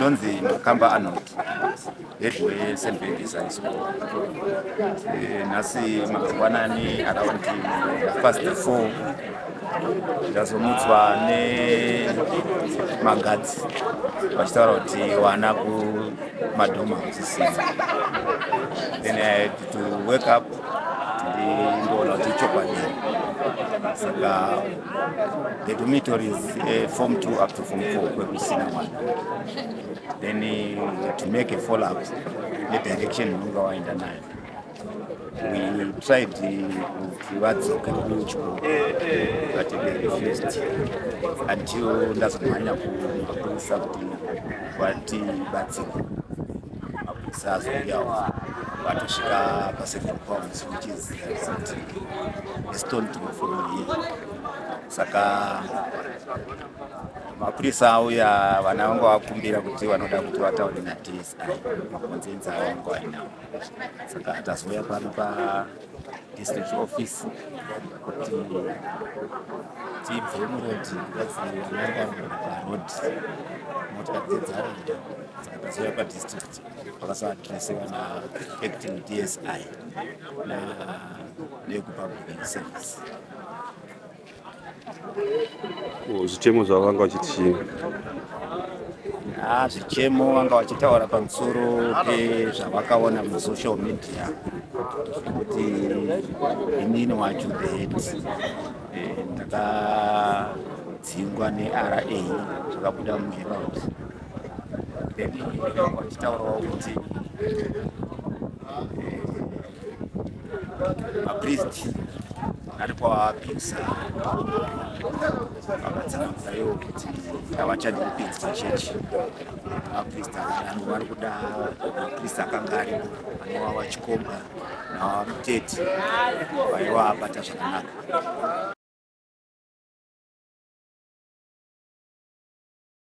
Ndonzi Makamba Arnold headway St Babies High School. Eh, nhasi mangwanani around past four ndazomutswa nemagadzi vachitaura kuti wana kumadhoma musisina then i had to wake up ndindoona kuti chokwadi saka The dormitory is uh, form 2 up to form 4 kwekusina mwana then uh, to make a follow up nedirection unonga waenda nayo we tried kuti vadzoke kuchikoro but they refused until ndazomhanya kumapurisa kuti vatibatsire mapurisa azouyawo vatosvika paseven pounds which is a stone throw from here saka mapurisa auya vana vangu vakumbira kuti vanoda kuti vataure nadsi makonzenzi avangu ainawo saka tazouya pano pa district office kuti tibve murodi vadzianga parod motokari dzedzaranda dzakazouya padistrict vakazoadresiwa naacting dsi na nekupublic service Zvichemo zvavo vanga vachiti chii? Ah, zvichemo vanga vachitaura pamusoro pezvavakaona musocial media kuti inini wacho that eh, ndakadzingwa nera zvakabuda muherald then vachitaurawo kuti eh, mapriest ari kwavapisa vakatsanangura ivo kuti havachadi kupinzi pachechi mapriest akadaro vari kuda mapriest akanga aripo anova vachikomba navamuteti vaiva abata zvakanaka